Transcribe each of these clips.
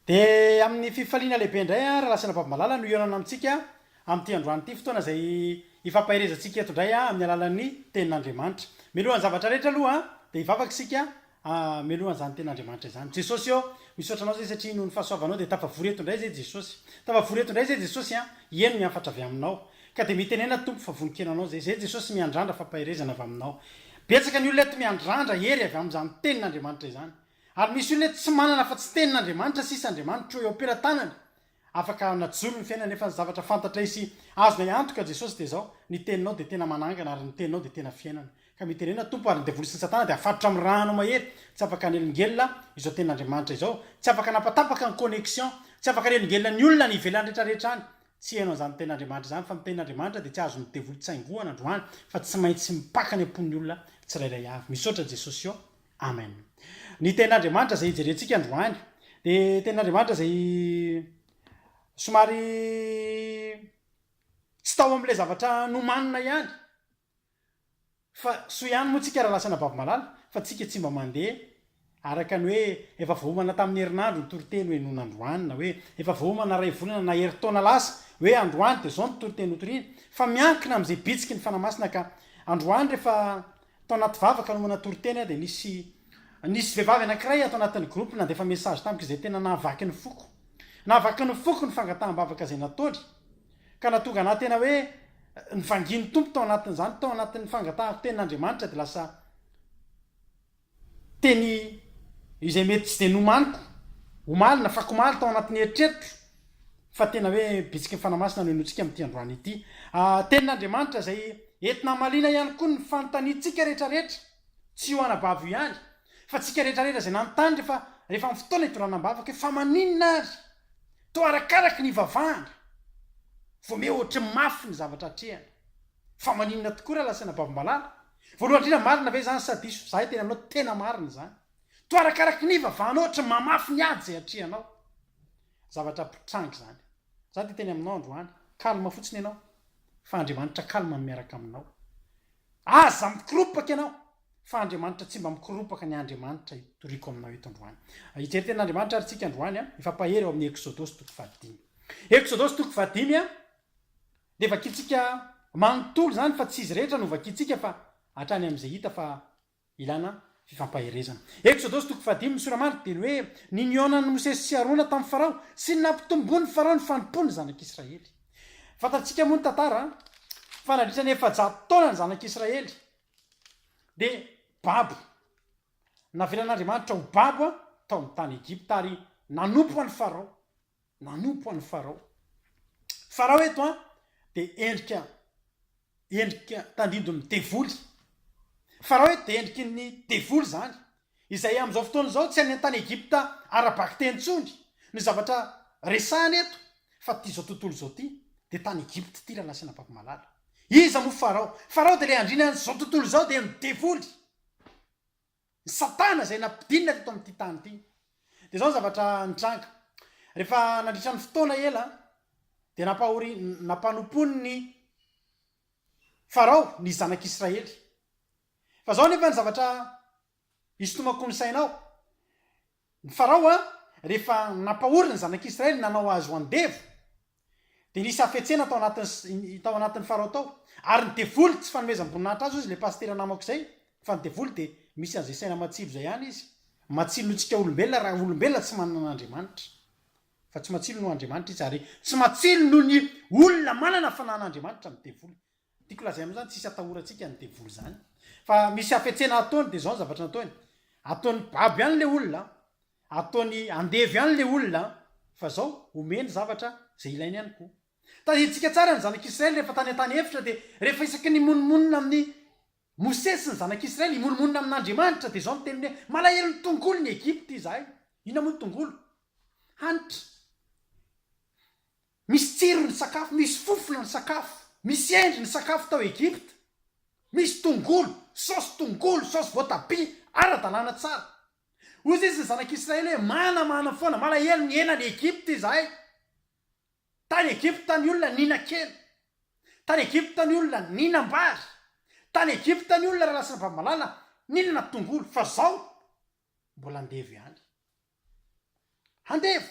Dia amin'ny fifaliana lehibe indray an, Ralasana Babimalala no hihaonana amintsika amin'ity androany ity, fotoana izay hifampaherezantsika eto indray amin'ny alalan'ny Tenin'Andriamanitra. Mialohan'ny zavatra rehetra aloha an, dia hivavaka isika hameloha an'izany Tenin'Andriamanitra izany. Jesosy ô, misaotra Anao izay satria noho ny fahasoavanao dia tafavory eto indray izay Jesosy. Tafavory eto indray izay Jesosy an, hieno ny hafatra avy Aminao. Ka dia mitenena Tompo fa vonon-kena Anao izay. Izay Jesosy miandrandra fampaherezana avy Aminao. Betsaka ny olona eto miandrandra hery avy amin'izany Tenin'Andriamanitra izany. Ary misy olona eto tsy manana afa-tsy tenin'Andriamanitra sisa, Andriamanitro eo am-pelatanany, afaka hanajony ny fiainany nefa ny zavatra fantatray sy azonay antoka Jesosy dia izao, ny teninao dia tena manangana ary ny teninao dia tena fiainana. Ka mitenena Tompo ary ny devoly sy ny satana dia afatotra amin'ny ra anao mahery, tsy afaka hanelingelina izao tenin'Andriamanitra izao, tsy afaka hanapatapaka ny connexion, tsy afaka hanelingelina ny olona any ivelany rehetra rehetra any, tsy heno an'izany tenin'Andriamanitra izany fa ny tenin'Andriamanitra dia tsy azon'ny devoly tsaingohana androany fa tsy maintsy mipaka any am-pon'ny olona tsirairay avy. Misaotra Jesosy ô! Amen. Ny tenin'Andriamanitra izay hijerentsika androany dia tenin'Andriamanitra izay somary tsy tao amin'ilay zavatra nomanina ihany. Fa soa ihany moa tsika raha lasa anababy malala fa tsika tsy mba mandeha araka ny hoe efa voaomana tamin'ny herinandro ny toriteny hoe noana androany na hoe efa voaomana iray volana na herintaona lasa hoe androany dia izao ny toriteny hotorina fa miankina amin'izay bitsiky ny fanahy masina ka androany rehefa Tao anaty vavaka no manatoro teny aho dia nisy Nisy vehivavy anankiray ato anatin'ny groupe nandefa message tamiko izay tena nahavaky ny foko. Nahavaky ny foko ny fangataham-bavaka izay nataony. Ka nahatonga anah tena hoe nivangian'ny Tompo tao anatin'izany, tao anatin'ny fangatahako tenin'Andriamanitra dia lasa teny izay mety tsy dia nomaniko omaly na fakomaly tao anatin'ny eritreritro. Fa tena hoe bitsiky ny Fanahy Masina no hinoantsika amin'ity androany ity. Tenin'Andriamanitra izay entina hamaliana ihany koa ny fanontaniantsika rehetra rehetra. Tsy io anabavy io ihany, fa tsika rehetra rehetra izay nanontany rehefa rehefa amin'ny fotoana hidorana am-bavaka hoe fa maninona ary? Toa arakaraky ny hivavahana vao miha ohatry ny mafy ny zavatra atrehana. Fa maninona tokoa raha lazaina babo-malala? Voalohany indrindra marina ve izany sa diso? Izahay teny aminao tena marina izany. Toa arakaraky ny hivavahanao ohatry ny mamafy ny ady izay atrehanao. Zavatra mpitranga izany. Za dia teny aminao androany. Calme fotsiny ianao. Fa Andriamanitra calme no miaraka aminao. Aza mikoropaka ianao. Fa Andriamanitra tsy mba mikoropaka ny Andriamanitra itoriako aminao eto androany. Hijery tenin'Andriamanitra ary tsika androany an. Mifampahery ao amin'ny Eksodosy toko fahadimy. Eksodosy toko fahadimy an. Dia vakintsika manontolo izany fa tsy izy rehetra no vakintsika fa hatrany amin'izay hita fa Ilana fifampaherezana. Eksodosy toko fahadimy, ny sora maro dia ny hoe ny nionan'i Mosesy sy Arona tamin'i Farao sy ny nampitomboin'i Farao ny fanompoan'ny zanak'Israely. Fantatsika moa ny tantara fa nandritra ny efajato taona ny zanak'Israely dia babo. Navelan'Andriamanitra ho babo tao amin'ny tany Egypta ary nanompo an'i Farao. Nanompo an'i Farao. Farao eto an, dia endrika, endrika tandindon'ny devoly. Farao eto dia endriky ny devoly izany, izay amin'izao fotoana izao tsy any an-tany Egypta ara-bakiteny intsony ny zavatra resahina eto, fa ity izao tontolo izao ity, dia tany Egypta ity rahalahy sy anabako malala. Iza moa Farao? Farao dia ilay andriana an'izao tontolo izao, dia ny devoly. Ny Satana izay nampidinina teto amin'ity tany ity. Dia izao ny zavatra nitranga. Rehefa nandritra ny fotoana ela, dia nampahori-, nampanompon'i Farao ny zanak'Israely. Fa izao anefa ny zavatra isintomako ny sainao, Ny Farao a, rehefa nampahory ny zanak'Israely nanao azy ho andevo, dia nisy hafetsena tao anatin'ny tao anatin'ny Farao tao. Ary ny devoly, tsy fanomezam-boninahitra azy hoy izy, ilay pasitera namako izay, fa ny devoly dia misy an'izay saina matsilo izay ihany izy. Matsilo noho isika olombelona raha olombelona tsy manana an'Andriamanitra. Fa tsy matsilo noho Andriamanitra izy, ary tsy matsilo noho ny olona manana fananan'Andriamanitra ny devoly. Tiako lazaina moa zany tsisy atahorantsika ny devoly zany fa misy hafetsena ataony de zao ny zavatra nataony ataony babo ihany le olona ataony andevo ihany le olona fa zao omeny zavatra zay ilainy ihany ko tadidinsika tsara ny zanak'israely rehefa tany an-tany efitra de rehefa isaky ny monomonona amin'ny mosesy ny zanak'israely imonomonona amin'andriamanitra de zao ny teniny hoe malahelo ny tongolo ny egypta izahay inona moa ny tongolo hanitra Misy tsiro ny sakafo, misy fofona ny sakafo, misy endry ny sakafo tao Egypta. Misy tongolo, saosy tongolo, saosy voatabia, ara-dalàna tsara. Hoy izy ny zanak'Israely hoe, Manamana foana, malahelo ny hena any Egypta izahay. Tany Egypta ny olona nihinan-kena. Tany Egypta ny olona nihinam-bary. Tany Egypta ny olona raha lasa vamalala nihinana tongolo. Fa izao, mbola andevo ihany. Handevo!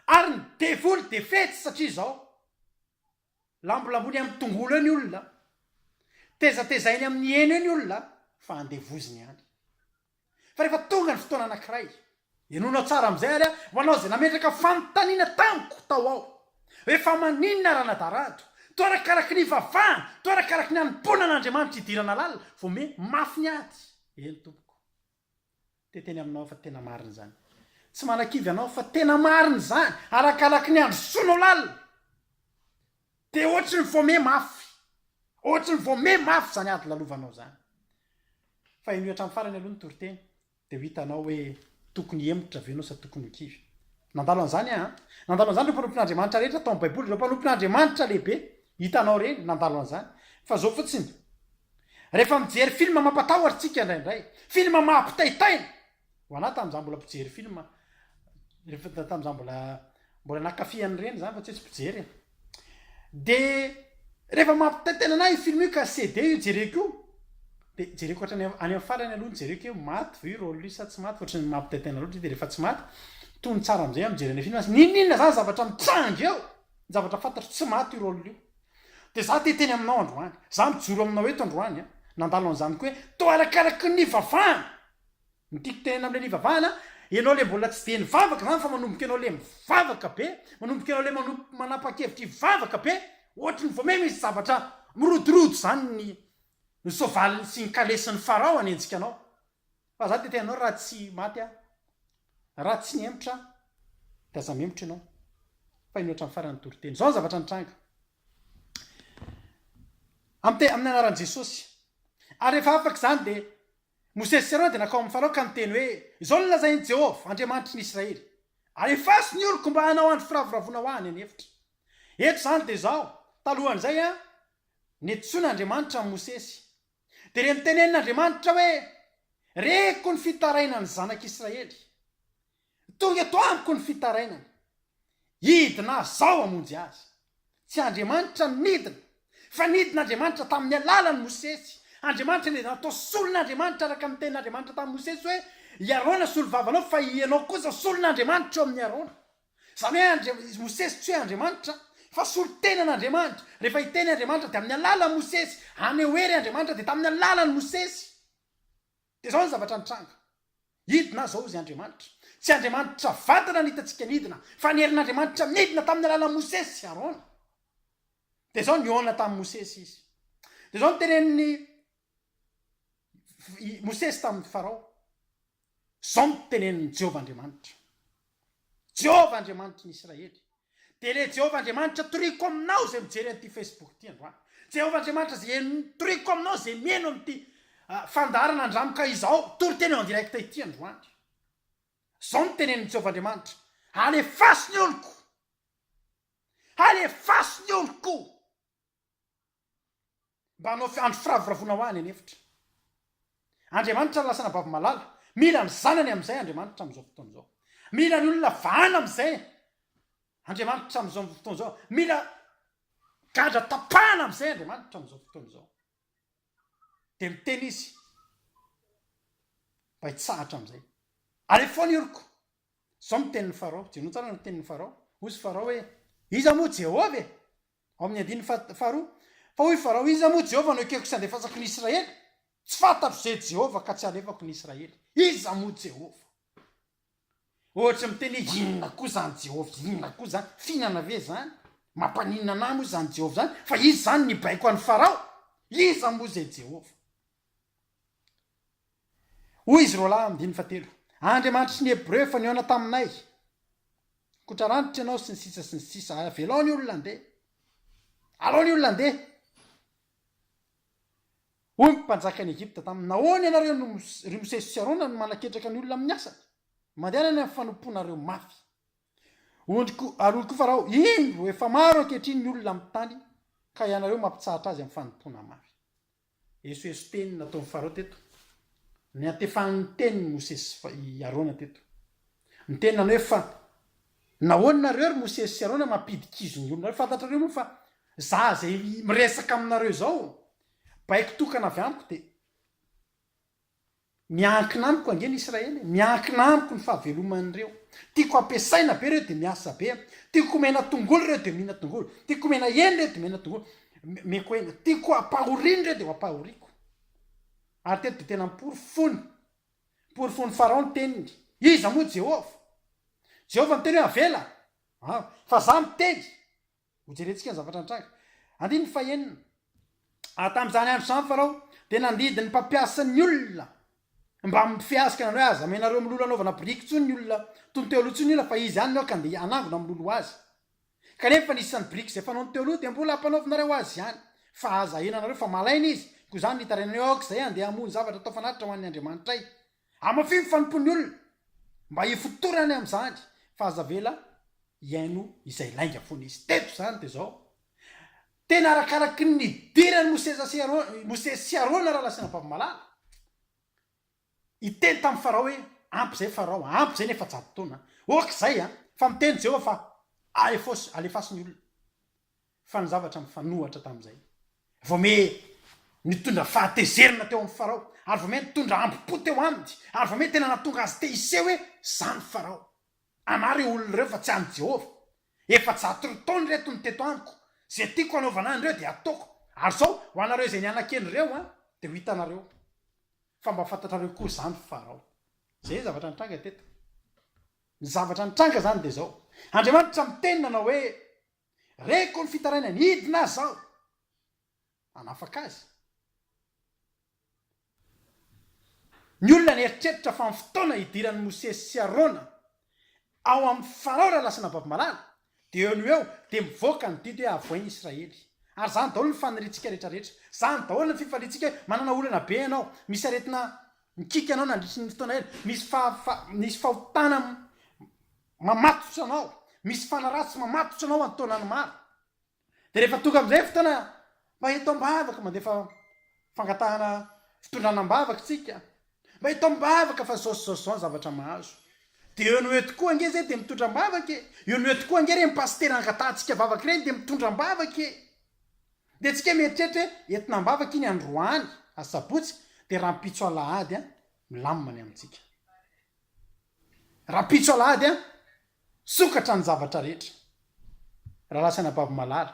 Ary ny devoly dia fetsy satria izao, lambolambony amin'ny tongolo eo ny olona, tezatezainy amin'ny hena eo ny olona fa andevoziny ihany. Fa rehefa tonga ny fotoana anankiray, henoinao tsara amin'izay ary aho, ho anao izay nametraka fanontaniana tamiko tao ao hoe fa maninona Ranadarado, toa arakaraky ny ivavahana, toa arakaraky ny hanompoana an'Andriamanitra idirana lalina vao miha mafy ny ady, eny tompoko. Dia teny aminao aho fa tena marina izany. Tsy manakivy anao aho fa tena marina izany, arakaraky ny handrosoanao lalina. Dia ohatry ny voamey mafy, ohatry ny voamey mafy izany ady lalovanao izany. Fa henoy hatramin'ny farany aloha ny toriteny, dia ho hitanao hoe tokony hihemotra ve ianao sa tokony ho kivy. Nandalo an'izany aho an. Nandalo an'izany ireo mpanompon'Andriamanitra rehetra tao amin'ny Baiboly, ireo mpanompon'Andriamanitra lehibe. Hitanao ireny, nandalo an'izany. Fa izao fotsiny, Rehefa mijery film mampatahotra tsika indraindray, film mahampitaitaina, ho anah tamin'ny za mbola mpijery film, rehefa tamin'ny za mbola mbola nakafy an'ireny zany fa tsy hoe tsy mpijery e, de rehefa mampitaitaina anah io film io ka CD io jereko io, de jereko hatrany any amin'ny farany aloha no jereko hoe maty ve io rôle io sa tsy maty fa ohatran'ny mampitaitaina loatra izy de rehefa tsy maty, tony tsara am'zay aho mijery an'le film, n'inon'inona zany zavatra mitranga eo, ny zavatra fantatro tsy maty io rôle io, Dia izaho te hiteny aminao androany. Izaho mijoro aminao eto androany an. Nandalo an'izany koa hoe, toa arakaraky ny nivavahana! Ny tiako tenenina amin'ilay nivavahana, ianao ilay mbola tsy dia nivavaka izany fa manomboka ianao ilay mivavaka be, manomboka ianao ilay manomboka manapa-kevitra hivavaka be, ohatry ny vao may misy zavatra mirodorodo izany ny soavalin'ny sy ny kalesin'i Farao hanenjika anao. Fa za te anao raha tsy maty aho, raha tsy mihemotra aho de aza mihemotra ianao fa henoy hatramin'ny farany ny toriteny. Zao ny zavatra nitranga. Amte amin'ny anaran'i Jesosy. Ary rehefa afaka izany dia Mosesy sy Arona dia nakao amin'ny Farao ka niteny hoe izao no lazain'i Jehovah, Andriamanitry ny Israely, Alefaso ny oroko mba hanao andro firavoravoana ho ahy any an'efitra. Eto izany dia izao, talohan'izay an, netsoina Andriamanitra an'i Mosesy. Dia re mitenenina Andriamanitra hoe, Reko ny fitarainan'ny Zanak' Israely. Tonga eto amiko ny fitarainany. Hidina Aho izao hamonjy azy. Tsy Andriamanitra no nidina, fa nidina Andriamanitra tamin'ny alalan'i Mosesy. Andriamanitra nidina tao solon' Andriamanitra araka ny tenin' Andriamanitra tamin'i Mosesy hoe, I Arona solovavanao, fa hianao kosa solon' Andriamanitra eo amin'i Arona. Izany hoe Andria, i Mosesy tsy hoe Andriamanitra, fa solontenan'Andriamanitra. Rehefa hiteny Andriamanitra dia amin'ny alalan'i Mosesy. Haneho hery Andriamanitra dia tamin'ny alalan'i Mosesy. Dia izao ny zavatra nitranga. Hidina aho izao, hoy Andriamanitra. Tsy Andriamanitra vatana no hitantsika nidina, fa ny herin'Andriamanitra nidina tamin'ny alalan'i Mosesy sy Arona. Dia izao nihaona tamin'i Mosesy izy. Dia izao no tenenin'i Mosesy tamin'i Farao. Izao no tenenin'i Jehovah Andriamanitra, Jehovah Andriamanitry ny Isiraely, Dia ilay Jehovah Andriamanitra toriko aminao izay mijery an'ity Facebook ity androany. Jehovah Andriamanitra izay en- toriko aminao izay mihaino amin'ity ah, fandaharana andramka izao, toriteny en direct ity androany. Izao no tenenin'i Jehovah Andriamanitra, Alefaso ny oloko! Alefaso ny oloko! Mba hanao fiandry firavoravoana ho ahy any an'efitra. Andriamanitra ny lasana babo malala. Mila ny zanany amin'izay Andriamanitra amin'izao fotoana izao. Mila ny olona vahana amin'izay Andriamanitra amin'izao fotoana izao. Mila gadra tapahana amin'izay Andriamanitra amin'izao fotoana izao. Dia miteny izy mba hitsahatra amin'izay. Alefoany iriko. Izao miteniny Farao. Jereo tsara ny miteniny Farao. Hoy izy Farao hoe, iza moa Jehovah e? Ao amin'ny andininy faha, faharoa, Fa hoy Farao, Iza moa Jehovah no ekeko sy andefasako ny Israely? Tsy fantatro izay Jehovah ka tsy alefako ny Israely. Iza moa Jehovah? Ohatry ny miteny hoe inona koa izany Jehovah inona koa izany? Fihinana ve izany? Mampaninona anà moa izany Jehovah izany? Fa izy izany nibaiko an'i Farao. Iza moa izay Jehovah? Hoy izy roalahy amin'ny diny fahatelo, Andriamanitry ny Hebreo efa nihaona taminay, Kotra ranitra ianao sy ny sisa sy ny sisa, avelao ny olona handeha. Alao ny olona handeha. Hoy ny mpanjakan'i Egypta taminy, Nahoana ianareo no, ry Mosesy sy Arona, no manaketraka ny olona amin'ny asany? Mandehana any amin'ny fanompoanareo mafy. Ondriko, aloky Farao, indro, efa maro ankehitriny ny olona amin'ny tany, ka ianareo mampitsahatra azy amin'ny fanompoana mafy. Esoeso teny nataon'i Farao teto. Niantefan'ny tenin'i Mosesy sy fa, i Arona teto. Ny teny nanao hoe fa. Nahoana nareo ry Mosesy sy Arona mampidikizo ny olonareo? Fantatrareo moa fa za zay miresaka aminareo izao, baiko tokana avy amiko dia. Miankina amiko ange ny Israely e! Miankina amiko ny fahaveloman'ireo. Tiako ampiasaina be ireo dia miasa be. Tiako omena tongolo ireo dia omena tongolo. Tiako omena hena ireo dia omena tongolo. Omeko hena. Tiako ampahorina ireo dia ho ampahoriko. Ary teto dia tena miporofono. Miporofono Farao ny teniny. Iza moa Jehovah? Jehovah miteny hoe, Avela! Fa izaho miteny, Hojerentsika ny zavatra nitranga. Andininy fahenina. Ary tamin'izany andro izany Farao dia nandidy ny mpampiasa ny olona mba hampifehazika anareo hoe aza amenareo milolo hanaovana biriky intsony ny olona toy ny teo aloha intsony ny olona fa izy ihany no aoka handeha hanangona milolo azy. Kanefa ny isan'ny biriky izay fanaony teo aloha dia mbola hampanaovinareo azy ihany fa aza ahenanareo fa malaina izy, koa izany ny hitarainanay hoe aoka izahay handeha hamoha ny zavatra atao fanatitra ho an'ny Andriamanitray. Amafy ny fanompoan'ny olona mba hifotorany amin'izany fa aza avela hihaino izay lainga foana izy. Teto izany dia izao, Tena arakaraky ny nidiran'i Mosesa sy Arona, Mosesy sy Arona raha lasa vavy-malala, hiteny tamin'i Farao hoe, Ampy izay Farao a, ampy izay ny efajato taona a. Ok izay a, fa miteny Jehovah fa alefaso, alefaso ny olona. Fa ny zavatra mifanohatra tamin'izay, Vome nitondra fahatezerana teo amin'i Farao, ary Vome nitondra hambom-po teo aminy, ary Vome tena nahatonga azy te-hiseho hoe, Izany Farao. Anà ireo olona ireo fa tsy an'i Jehovah. Efajato roa taona ireto no teto amiko. Izay tiako hanaovana an'ireo dia hataoko. Ary izao, ho anareo izay nianakendry ireo, dia ho hitanareo fa mba fantatrareo koa izany Farao. Izay ny zavatra nitranga teto. Ny zavatra nitranga izany dia izao, Andriamanitra miteny nanao hoe, Reko ny fitarainany hidina aza aho hanafaka azy. Ny olona nieritreritra fa ny fotoana hidiran'i Mosesy sy Arona ao amin'ny Farao raha lasa nababy malala dia eo no eo dia mivoaka ny didy hoe avoain'i Israely. Ary izany daholo ny faniriantsika rehetrarehetra. Izany daholo ny fifaliantsika hoe manana olana be ianao, misy aretina mikiky anao nandritry ny fotoana ela, misy fa, fa, misy fahotana Mamatotra anao, misy fanaratsy mamatotra anao an-taonany maro. Dia rehefa tonga amin'izay fotoana mba eto am-bavaka, mandefa fangatahana fitondrana am-bavaka isika, mba eto am-bavaka fa izao sy izao sy izao ny zavatra mahazo. Dia eo no eo tokoa ange izay dia mitondra am-bavaka e! Eo no eo tokoa ange ireny pasitera angatahantsika am-bavaka ireny dia mitondra am-bavaka e! Dia antsika mieritreritra hoe entina am-bavaka iny androany, asabotsy, dia rahampitso alahady an! milamina ny amintsika. Rahampitso alahady an! Sokatra ny zavatra rehetra. Rahalahy sy anabavy malala.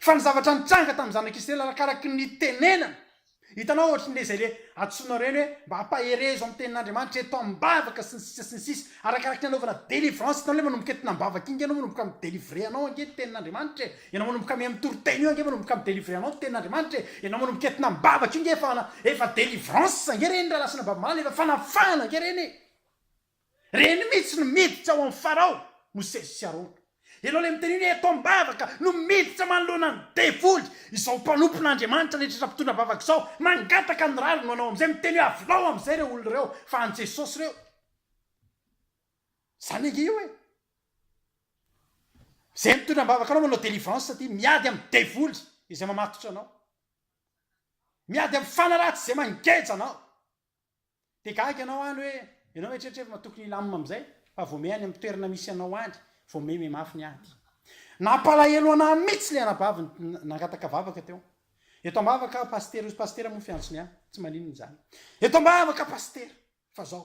Fa ny zavatra nitranga tamin'ny zanak'Israely arakaraky ny tenenana. Hitanao ohatry ny le izay le antsoina ireny hoe mba hampaherezo amin'ny tenin'Andriamanitra eto am-bavaka sy ny sisa sy ny sisa. Arakaraky ny anaovana délivrance hitanao le manomboka eto am-bavaka iny anao manomboka mi-délivrer anao ange ny tenin'Andriamanitra e. Ianao manomboka mihaino toriteny io ange manomboka mi delivrer anao ny tenin'Andriamanitra e! Ianao manomboka entina am-bavaka io nge efa efa delivrance ange ireny raha lasa an'Ambabomaly efa fanafahana ange ireny e! Ireny mihitsy no miditra ao amin'ny Farao, Mosesy sy Arona. Ianao ilay miteny iny hoe eto am-bavaka no miditra manoloana ny devoly, izao mpanompon'Andriamanitra rehetra efa mpitondra am-bavaka izao mangataka ny rariny ho anao amin'izay miteny hoe avelao amin'izay ireo olona ireo fa an'i Jesosy ireo. Zany ange io e! Zay mitondra ambavaka anao manao délivrance ty miady amin'ny devoly izay mamatotra anao. Miady amin'ny fana ratsy izay mangeja anao. Dia gaga ianao any hoe, ianao eritreritry fa tokony hilamina amin'izay fa vao may any amin'ny toerana misy anao any vao may may mafy ny ady. Nampalahelo anah mitsy le anabavy nangataka vavaka teo. Eto ambavaka pasitera ozy pasitera moa fiantsony an! Tsy maninona izany. Eto ambavaka pasitera fa zao.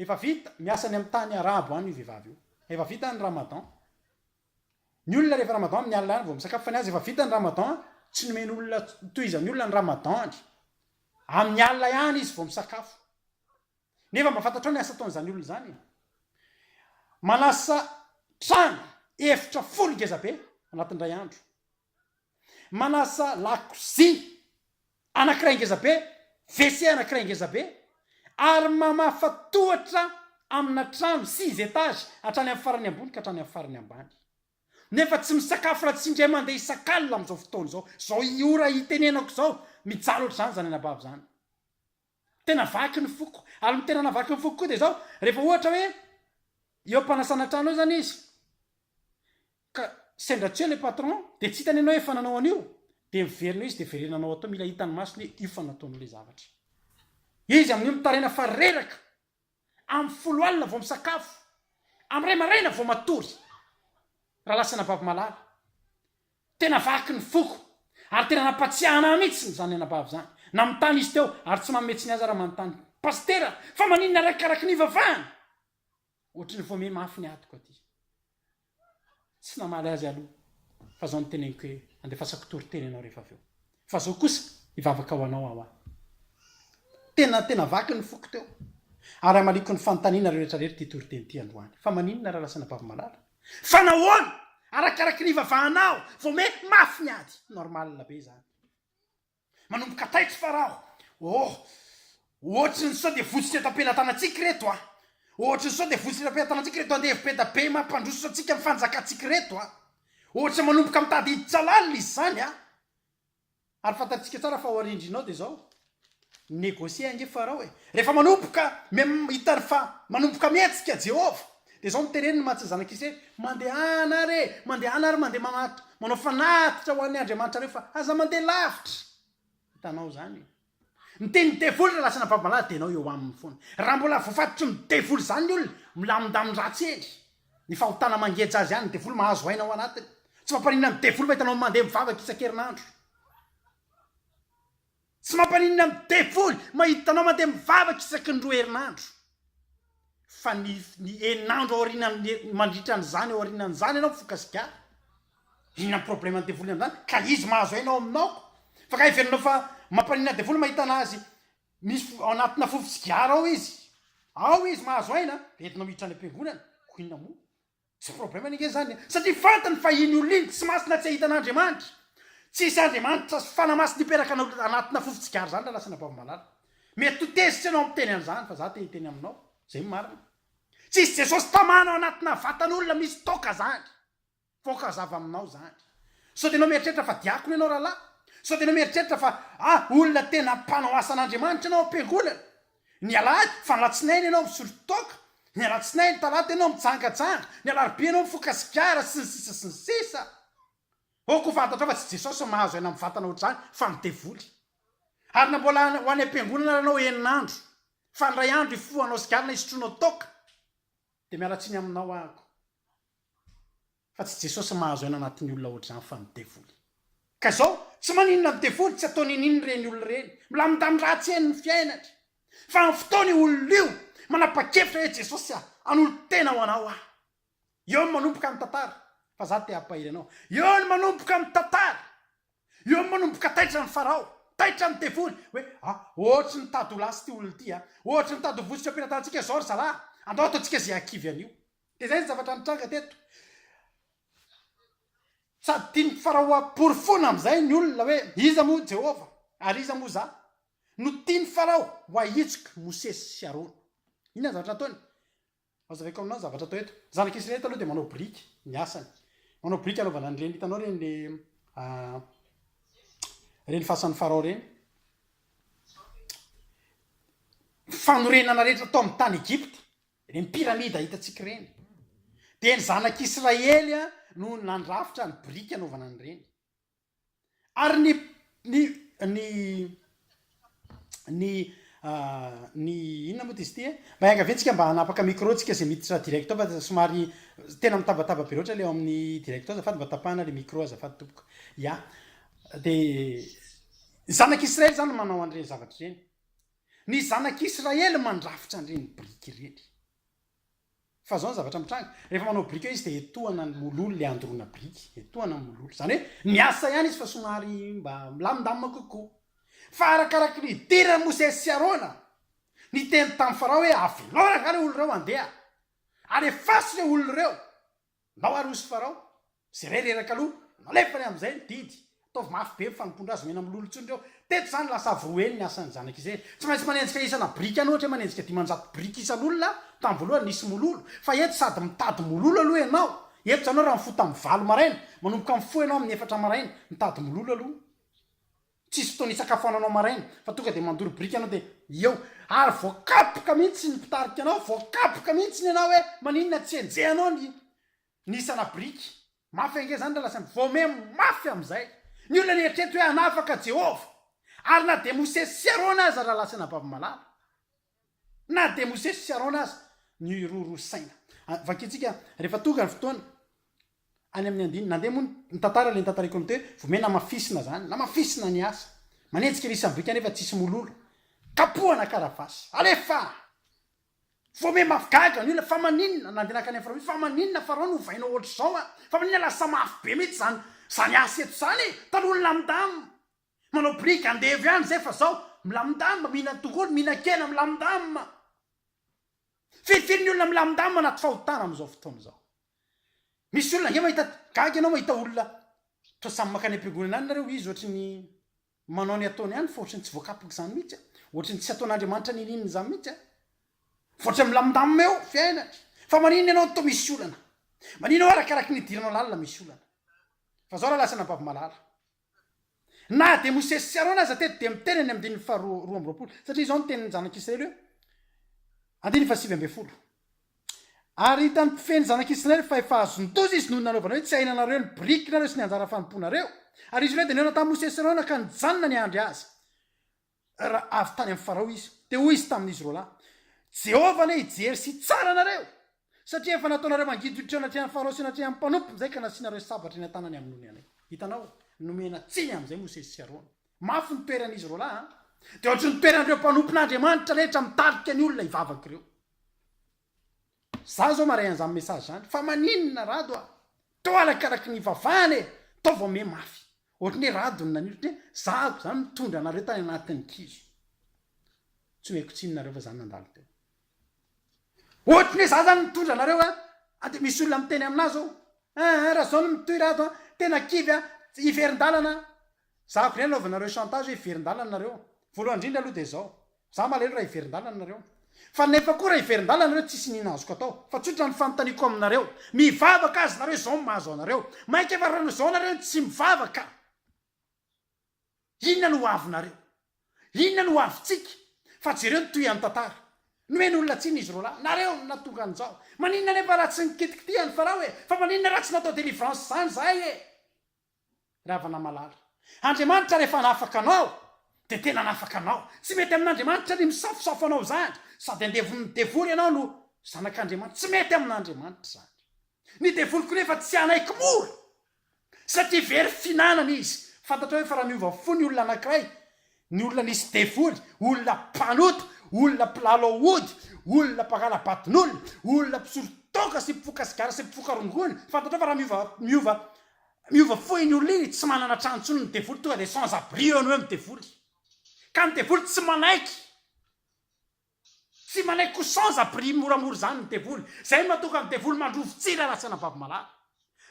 Efa vita, miasa any amin'ny tany arabo any io vehivavy io. Efa vita ny ramadan. Ny olona rehefa ramadan amin'ny alina ihany vao misakafo fa ny azy efa vita ny ramadan, tsy nomeny olona tohizan'ny olona ny ramadan-ny. Amin'ny alina ihany izy vao misakafo. Nefa mba fantatrao ny asa ataon'izany olona izany e? Manasa trano efitra folo ngezabe anatin'ny iray andro. Manasa lakozia anankiray ngeza be, WC anankiray ngeza be, ary mamafa tohatra amina trano six étages hatrany amin'ny farany ambony ka hatrany amin'ny farany ambany. Nefa tsy misakafo raha tsy indray mandeha isak'alina amin'izao fotoana izao. Izao ora itenenako izao, mijaly ohatr'izany izany anabavy izany. Tena vaky ny foko. Ary ny tena navaky ny foko koa dia izao, rehefa ohatra hoe eo am-panasana trano eo izany izy, ka sendra tsy eo ilay patron, dia tsy hitany ianao efa nanao an'io, dia miverina eo izy dia verenana anao atao, mila hitan'ny masony hoe io fa nataony ilay zavatra. Izy amin'io mitaraina fa reraka! Amin'ny folo alina vao misakafo. Amin'ny iray maraina vao matory. Raha lasanà Bavy Malala. Tena vaky ny foko. Ary tena nampatsiahana ahy mihitsy izany anabavy izany. Nanontany izy teo, ary tsy manome tsiny aza raha manontany. Pasitera, fa maninona arakaraka ny hivavahana? Ohatry ny voa miha mafy ny atiko aty. Tsy namaly azy aloha fa zao niteneniko hoe andefasako toriteny ianao rehefa avy eo. Fa zao kosa hivavaka ho anao aho aho. Tena tena vaky ny foko teo ary amaliako ny fanontaniana rehetra rehetra ity toriteny ity androany. Fa maninona raha lasana bavimalala? Fa nahoana? Arakaraky ny hivavahanao vao mety mafy ny ady. Normal be izany. Manomboka taitra fa raho oh Ohatry ny sao dia votsotra eto am-pelatanantsika ireto a! Ohatry ny sao dia votsotra eto am-pelatanantsika ireto andevo-beda be mampandroso antsika ny fanjakantsika ireto a! Ohatra manomboka mitady hiditra lalina izy izany a! Ary fantatsika tsara fa ao arindrinao dia izao Negocier ange Farao e! Rehefa manomboka mihita fa manomboka mihetsika Jehovah, Dia izao no teren'i Matsa zanak'Ise, Mandehana ary e! Mandehana ary mandeha manato, manao fanatitra ho an'ny andriamanitrareo fa aza mandeha lavitra! Hitanao izany e! Miteny ny devoly raha lasana babalahy dia ianao eo aminy foana. Raha mbola voafatotry ny devoly izany ny olona, milamindamin-dratsy eny. Ny fahotana mangeja azy ihany ny devoly, mahazo aina ao anatiny. Tsy mampaninona ny devoly mahita anao mandeha mivavaka isan-kerinandro. Tsy mampaninona ny devoly mahita anao mandeha mivavaka isaky ny roa herinandro. Fa ny ny eninandro aorianan'ny mandritra an'izany aorianan'izany ianao mifoka sigara. Inona ny problème ny devoly amin'izany? Ka izy mahazo aina ao aminao aho. Fa ka heverinao fa mampaninona ny devoly mahita an'azy misy fo ao anatina fofon-tsigara ao izy. Ao izy mahazo aina dia entinao miditra any am-piangonana. Koa inona moa? Tsy problème-ny ange zany e! Satria fantany fa iny olona iny tsy masina tsy ahitana Andriamanitra. Tsy hisy Andriamanitra sy fanahy masina hipetraka anao anatina fo fitsigara zany Ralasina Babomalala. Mety ho tezitra ianao miteny an'izany fa za te hiteny aminao zay ny marina. Tsy hisy Jesosy tamana ao anatina vatan'olona misy toaka zany. Voaka zava aminao zany. Sao de ianao mieritreritra fa diakona ianao rahalahy? Sao de ianao mieritreritra fa ah olona tena mpanao asan'Andriamanitra ianao am-piangonana? Ny alahady, fa ny alatsinainy ianao misotro toaka, ny alatsinainy, talata ianao mijangajanga, ny alarobia ianao mifoka sigara, sy ny sisa sy ny sisa. Ok ho fantatrao fa tsy i Jesosy no mahazo aina mivantana ohatr'izany fa ny devoly. Ary na mbola ho any am-piangonana ary ianao enina andro, fa ny iray andro ifohanao sigara na isotroanao toaka, dia miala tsiny aminao aho. Fa tsy Jesosy mahazo aina anatin'ny olona ohatr'izany fa ny devoly. Ka izao, tsy maninona ny devoly tsy ataony an'iny ireny olona ireny, milamindamy ratsy eny ny fiainany. Fa amin'ny fotoana io olona io manapa-kevitra hoe Jesosy a, hanolo-tena ho anao aho. Eo ny manomboka ny tantara, fa za te hampahery anao. Eo ny manomboka ny tantara. Eo ny manomboka taitra ny Farao, taitra ny devoly, hoe a, ohatry ny tady ho lasy ity olona ity a, ohatry ny tady ho vosotra am-pelatanantsika izao ry zalahy, andao ataontsika izay hahakivy an'io. Dia izay ny zavatra nitranga teto. Sady tiany faraoam-porofoana amin'izay ny olona hoe iza moa Jehovah ary iza moa izaho. Notian'i Farao ho ahitsiko i Mosesy sy Arona. Inona ny zavatra nataony? Hazavaiko aminao ny zavatra atao eto. Ny zanak'i Israely taloha dia manao biriky ny asany. Manao biriky anaovana an'ireny, hitanao ireny le ah, ireny fasan'ny Farao ireny. Fanorenana rehetra tao amin'ny tany Egypta. Ireny piramida hitantsika ireny, dia ny zanak'i Israely no nandrafitra ny biriky hanaovana an'ireny. Ary ny, ny, ny, ny, uh, ny inona moa dia izy ity e? Mba iangaviantsika mba hanapaka micro tsika izay miditra direct ao, fa somary tena mitabataba be loatra ilay ao amin'ny direct ao, azafady mba tapahana ilay micro azafady tompoko. Ya, dia ny zanak'i Israely izany no manao an'ireny zavatra ireny. Ny zanak'i Israely mandrafitra an'ireny biriky ireny. Fa izao ny zavatra mitranga, rehefa manao biriky eo izy dia etohana ny mololo ilay andoroana biriky, etohana ny mololo. Izany hoe miasa ihany izy fa somary mba milamindamina kokoa. Fa arakaraky ny hidiran'i Mosesy sy Arona, niteny tamin'i Farao hoe, Avelao raha izany ireo olona ireo handeha, ary efaso ireo olona ireo. Nao ary hoy Farao, Jereo reraka aloha, nalefany amin'izay ny didy, ataovy mafy be ny fanompoan-dra azy, omena mololo intsony ireo. Teto izany lasa avy roa heny ny asan'ny Zanak'i Isay. Tsy maintsy manenjika isana biriky any, ohatra hoe manenjika dimanjato biriky isan'olona, tamin'ny voalohany nisy mololo, fa eto sady mitady mololo aloha ianao, eto izany hoe raha mifoha tamin'ny valo maraina, manomboka mifoha ianao amin'ny efatra maraina, mitady mololo aloha. Tsisy fotoana hisakafoananao maraina fa tonga dia mandoro biriky ianao dia eo. Ary voakapoka mihitsy ny mpitarika anao, voakapoka mihitsy ny anao hoe maninona tsy enjehanao ny ny isana biriky. Mafy ange izany raha lasa voame mafy amin'izay. Ny olona nieritreritra hoe hanafaka Jehovah. Ary na dia Mosesy sy Arona aza raha lasa anabavy malala. Na dia Mosesy sy Arona aza niroro saina. Vakintsika rehefa tonga ny fotoana any amin'ny andininy. Nandeha moa ny tantara, ilay notantaraiko amin'i Toe, vao may namafisina izany, namafisina ny asa. Manenjika ery Sambrika nefa tsisy mololo. Kapohana karavasy. Alefa! Vao may mafy gaga ny olona, fa maninona, na dia nankany amin'ny Farao, fa maninona Farao no ovainao ohatr'izao an? Fa maninona lasa mafy be mihitsy izany, izany asa eto izany e? Talohan'ny lamindamy. Manao brique andevo ihany zay fa zao milamindamina mihinana tongolo mihinan-kena milamindamina. Firifiry ny olona milamindamina anaty fahotana amin'izao fotoana izao. Misy olona ange mahita gaga ianao mahita olona toa samy mankany am-piangonana any nareo izy ohatry ny manao ny ataony ihany fa ohatry ny tsy voakapaka izany mihitsy ohatry ny tsy ataon'Andriamanitra niniana izany mihitsy fa ohatry ny milamindamina eo fiainany fa maninona ianao toa misy olana maninona arakaraka ny hidiranao lalina misy olana fa zao raha lasa anabavy malala Na dia Mosesy sy Arona aza teto dia miteny any amin'ny andininy faharoa roa amby roapolo, satria izao no tenin'ny zanak'Israely hoe, Andininy fahasivy ambin'ny folo, Ary hitan'ny mpifehy ny zanak'Israely fa efa azon-doza izy noho ny nanaovana hoe tsy hahinanareo ny birikinareo sy ny anjara fanompoanareo. Ary izy ireo dia nihaona tamin'i Mosesy sy Arona ka nijanona niandry azy. Raha avy tany amin'i Farao izy, dia hoy izy tamin'izy roalahy, Jehovah anie hijery sy hitsara anareo, satria efa nataonareo mangiditra anatrehany an'i Farao sy anatrehany amin'ny mpanompo izay ka nasianareo sabatra eny an-tanany amin'ny nony anay. Hitanao, nomena tsiny amin'izay Mosesy sy Arona. Mafy ny toeran'izy roalahy, an? Dia hoatry ny toeran'ireo mpanompon'Andriamanitra rehetra mitarika ny olona hivavaka ireo. Za zao maray an'zany message zany fa maninona Rado a! Toa arakaraky ny ivavahana e! Toa vao miha mafy! Ohatry ny hoe Rado no naniry ohatry ny hoe zahako zany mitondra anareo tany anatin'ny kizo. Tsy ho haiko tsinona nareo fa zany nandalo teo. Ohatry ny hoe za zany mitondra anareo a! a de misy olona miteny aminà zao, eeh raha zao no mitohy Rado a! tena kivy a! hiverin-dalana a! Za vry anaovanareo chantage hoe hiverin-dalana nareo. Voalohany indrindra aloha dia zao. Za malahelo raha hiverin-dalana nareo. Fa nefa koa raha hiverin-dalana nareo tsisy nina azoko atao. Fa tsotra ny fanontaniako aminareo. Mivavaka aza nareo zao ny mahazo anareo. Maika efa rano zao nareo no tsy mivavaka. Inona no ho avinareo? Inona no ho avintsika? Fa jereo ny tohian'ny tantara. Nomeny olona tsiny izy roalahy. Nareo no nahatonga an'izao. Maninona anefa raha tsy nikitikitihany Farao e? Fa maninona raha tsy natao delivrance zany zahay e? Ravanamalala. Andriamanitra rehefa hanafaka anao dia tena hanafaka anao. Tsy mety amin'Andriamanitra ny misafosafo anao izany. Sady andevon'ny devoly ianao no zanak'Andriamanitra. Tsy mety amin'Andriamanitra izany. Ny devoly koa nefa tsy hanaiky mora satria very fihinanana izy. Fantatrao ve fa raha miova fo ny olona anankiray, ny olona nisy devoly, olona mpanota, olona mpilalao ody, olona mpangala-baton'olona, olona mpisolo toaka sy mpifoka sigara sy mpifoka rongony, fantatrao fa raha miova miova Miova fohy ny olona iny, tsy manana trano intsony ny devoly, tonga dia sans abri eo ny hoe midevoly. Ka ny devoly tsy manaiky, tsy manaiky ko sans abri moramora izany ny devoly. Izay no mahatonga ny devoly mandrovo tsira raha tsy anabavy malala.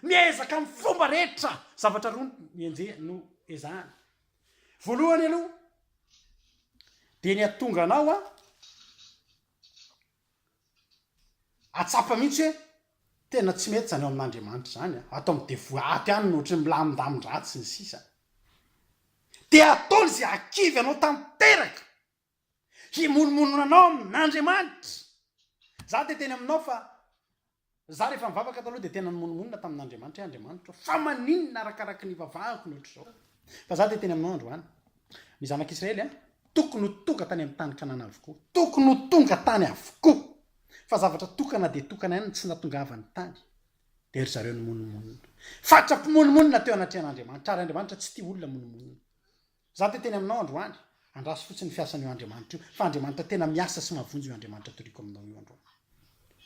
Miezaka amin'ny fomba rehetra, zavatra roa no enjehiny, no ezahany. Voalohany aloha dia ny hahatonga anao Hahatsapa mihitsy hoe tena tsy mety izany ao amin'Andriamanitra izany, ato amin'ny devoly ato ihany no ohatry ny milamindamin-dratsy sy ny sisa. Dia ataony izay hahakivy anao tanteraka, himonomonona anao amin'Andriamanitra. Izaho dia teny aminao fa Za rehefa nivavaka taloha dia tena nimonomonona tamin'Andriamanitra hoe Andriamanitra ô, fa maninona arakaraky ny ivavahako no ohatr'izao? Fa za dia teny aminao androany. Ny zanak'Israely an, tokony ho tonga tany amin'ny tany Kanana avokoa. Tokony ho tonga tany avokoa. Fa zavatra tokana dia tokana ihany no tsy natongavany tany. Dia ry zareo nimonomonona. Faritra mpimonomonona teo anatrehan'Andriamanitra, ary Andriamanitra tsy tia olona monomonona. Za te teny aminao androany. Andraso fotsiny ny fiasan io Andriamanitra io fa Andriamanitra tena miasa sy mahavonjy io Andriamanitra toriako aminao io androany.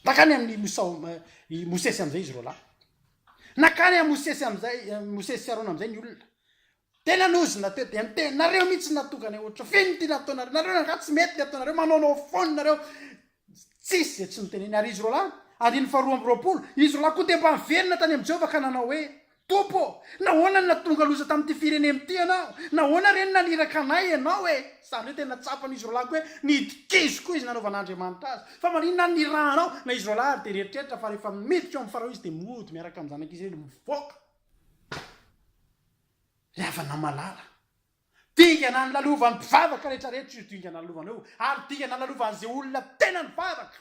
Nankany amin i Mosao ma i Mosesy amizay izy roalahy. Nankany am Mosesy amizay Mosesy sy Arona amizay ny olona. Tena nozona teo dia niteny nareo mihitsy natongany ohatra feno ty nataonareo nareo angaha tsy mety ny ataonareo manaonao foana nareo Tsisy izay tsy niteneny. Ary izy roalahy, andininy faharoa amby roapolo, izy roalahy koa dia mba niverina tany amin'i Jehovah ka nanao hoe, Tompo ô, nahoana no nahatonga loza tamin'ity firenena ity ianao? Nahoana re no naniraka anay ianao e? Izany hoe tena tsapan'izy roalahiko hoe nidikizo koa izy nanaovan'Andriamanitra azy. Fa maninona no nirahanao? Na izy roalahy ary dia nieritreritra fa rehefa miditra eo amin'i Farao izy dia mody miaraka amin'ny zanak'Israely mivoaka ry havana malala. Dingana ny lalovan'ny mpivavaka rehetra rehetra io dingana lalovana io ary dingana lalovan'izay olona tena nivavaka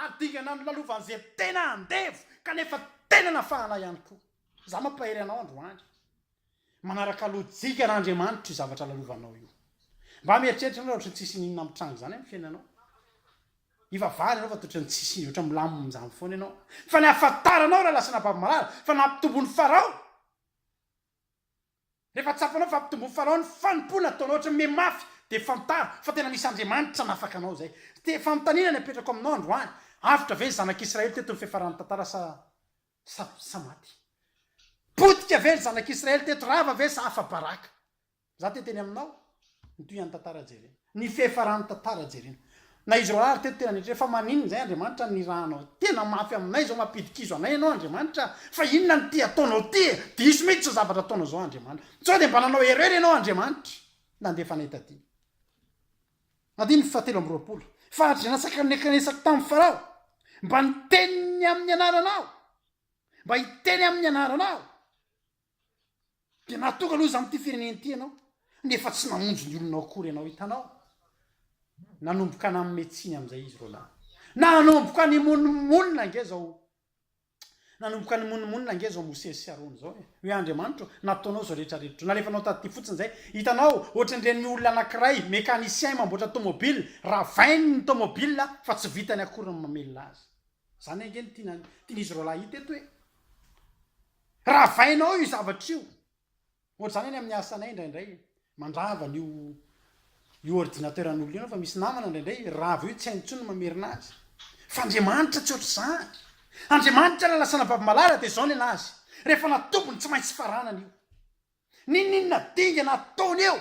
ary dingana ny lalovan'izay tena andevo kanefa tena nafahana ihany koa. Izaho mampahery anao androany. Manaraka lojika an'Andriamanitra io zavatra lalovanao io. Mba mieritreritra ianao raha ohatran'ny tsisy n'inona mitranga izany amin'ny fiainanao. Ivavahana ianao fa toa ohatran'ny tsisy inona, ohatran'ny milamina amin'izany foana ianao. Fa ny ahafantaranao raha lasa nababy marary fa nampitombon'i Farao. Rehefa tsapanao fa ampitomboin'ny Farao ny fanompoana ataonao ohatran'ny miha mafy dia fantaro fa tena misy Andriamanitra nafaka anao izay. Dia fanontaniana ny apetrako aminao androany, avotra ve ny zanak'Israely teto ny fiafaran'ny tantara sa sa sa maty? Potika ve ny zanak'Israely teto, rava ve sa afa-baraka? Za te teny aminao ny tohian'ny tantara jerena. Ny fiafaran'ny tantara jerena. Na izy roalahy ary teto tena nieritreritra fa maninona izay Andriamanitra nirahanao tena mafy aminay izao mampidikizo anay ianao Andriamanitra a! Fa inona no te ataonao ty e? Diso mihitsy izao zavatra ataonao izao Andriamanitra. Sao dia mba nanao erreur ianao Andriamanitra nandefa anay taty. Andininy fahatelo amby roapolo. Faritry ny latsaka nikanesako tamin'i Farao mba niteny amin'ny anaranao, mba hiteny amin'ny anaranao. Dia nahatonga loza amin'ity firenena ity ianao, nefa tsy namonjy ny olonao akory ianao. Hitanao? Nanomboka nanome tsiny amin'izay izy roalahy. Nanomboka nimonomonona ange izao. Nanomboka nimonomonona ange izao Mosesy sy Arona izao. Eh. Hoe Andriamanitro, nataonao izao rehetrarehetra. Nalefanao taty fotsiny izay. Hitanao, ohatran'ireny olona anankiray, mécanicien mamboatra tomobile, ravainy ny tomobile fa tsy vitany akory ny mamelona azy. Izany ange no tiana tian'izy roalahy hita eto e! Ravainao io zavatra io! Ohatr'izany any amin'ny asanay indraindray, mandrava an'io io ordinateur-n'olona io ianao fa misy namana indraindray rava io tsy hainy intsony ny mamerina azy. Fa Andriamanitra tsy ohatr'izany! Andriamanitra raha lasa anababy malala dia izao ny an'Azy, rehefa natombony tsy maintsy faranana io. N'inon'inona dingana ataony eo